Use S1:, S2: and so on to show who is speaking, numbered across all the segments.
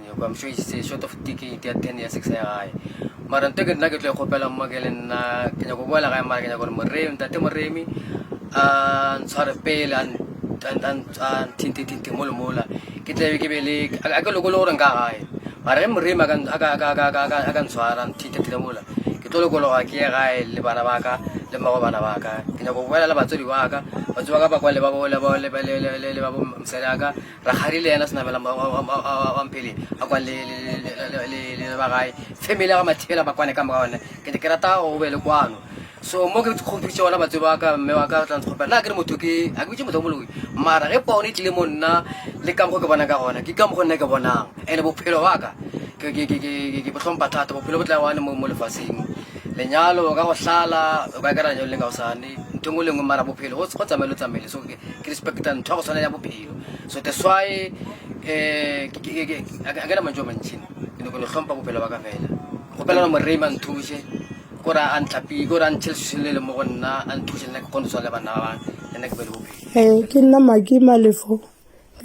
S1: Nyoko, I'm sure he's uh, short of ticket ya 10 ya 6 ya gae mara nto ke nna ke tlo e kgopela mma ke le nna ke nyako boela gae mara ke nyako gore moremi ntate moremi a ntshware pele a nthintethinthe mole mola ke tlabe ke be le a ke lokole gore nka gae mara ge moremi a ka ntshwara nthintethile mola ke tlo lokologa ke ye gae le bana ba ka le mmago bana ba ka ke nyako boela le batswadi ba ka batswadi ba ka ba kwa le ba mosadi ya ka Rakgadi le yena Senabela Mampele a kwa le ba gae family ya ga Mathibela ba kwane ka moka one ke ke rata go be le kwano so mo ke kgopitse ona batse ba ka mme wa ka tla ntshopela na ke re motho ke a ke bitse motho moloi mara ge pono e tlile mo nna le ka mokgo ke bonang ka gona ke ka mokgo nna ke bonang ene bophelo wa ka ke ke ke ke ke botlhompa thata bophelo bo tla one mo mo lefatsheng lenyalo ka go hlala o ka kera lenyalo le ka go sane ntho e nngwe le nngwe mara bophelo go tsamaye lo tsamaile so ke respecta ntho ya go tshwana ya bophelo so that's why eh, a ke na mantso a mantšhi ke ne ko ne tlhompa bophelo ba ka fela kgopelana morema nthuse kore a ntlapile kore a ntšhele se le le mo go nna a nthuse nna ke kgone tshwa le bana ba bang le nna ke be le bophelo ee ke nna maki malefo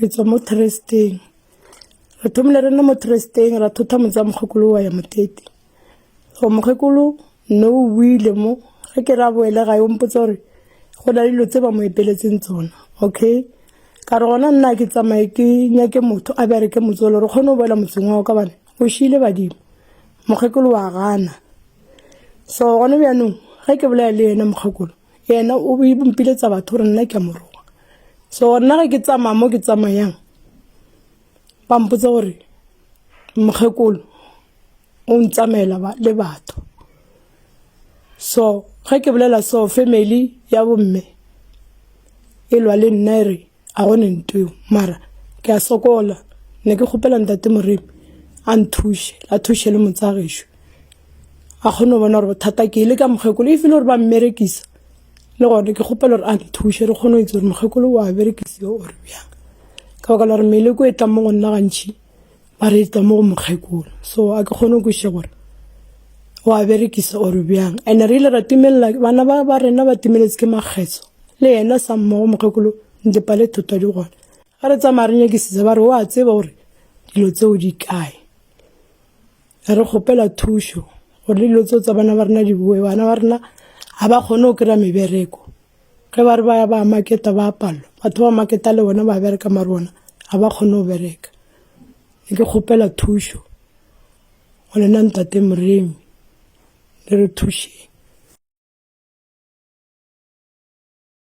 S1: re tswa mo tresteng re thomile re nne mo tresteng ra thotha motsa mokgokolo wa ya motete Go mokgekolo no o buile mo ge ke ra boele ga yo mpotsa gore go na le dilo tse ba mo epeletseng tsona okay ka re gona nna ke tsamaye ke nyake motho a bjare ke motsolo re kgone go boela motseng wa ka bane o šile badimo mokgekolo wa gana so gone bjanong ge ke bolaya le yena mokgekolo yena o mpiletsa batho gore nna ke a moroga so nna ge ke tsamaya mo ke tsamayang ba mpotsa gore mokgekolo o ntsamaela le batho so ge ke bolela so family ya bomme e lwa le nna e re a gone ntweo mara ke a sokola ne ke kgopela ntate moremi a nthuše a thuše le motsagešu a kgone go bona gore bothata ke le ka mokgekolo e file gore ba mmerekisa le gone ke kgopela gore a nthushe re kgone go itse gore mokgekolo wa berekisiwa ore bjang ka baka la gore meleko e tlang mo go nna gantšhi ba reetsa mo go mokgekolo so a ke kgone go kweša gore o a berekisa or bjang and re ile ra timelela bana ba ba rena ba timeletse ke makgetso le yena sa mmogo mokgekolo ntepa le thotwa di gona ga re tsamaya re nyakisitsa ba re o a tseba gore dilo tseo di kae re kgopela thušo gore le dilo tseo tsa bana ba rena di boe bana ba rena ga ba kgone go kry-a mebereko ge ba re ba ya ba maketa ba palelwa batho ba maketa le bona ba bereka mare bona ga ba kgone go bereka ne ke kgopela thušo go lena ntate moremi le re thušeng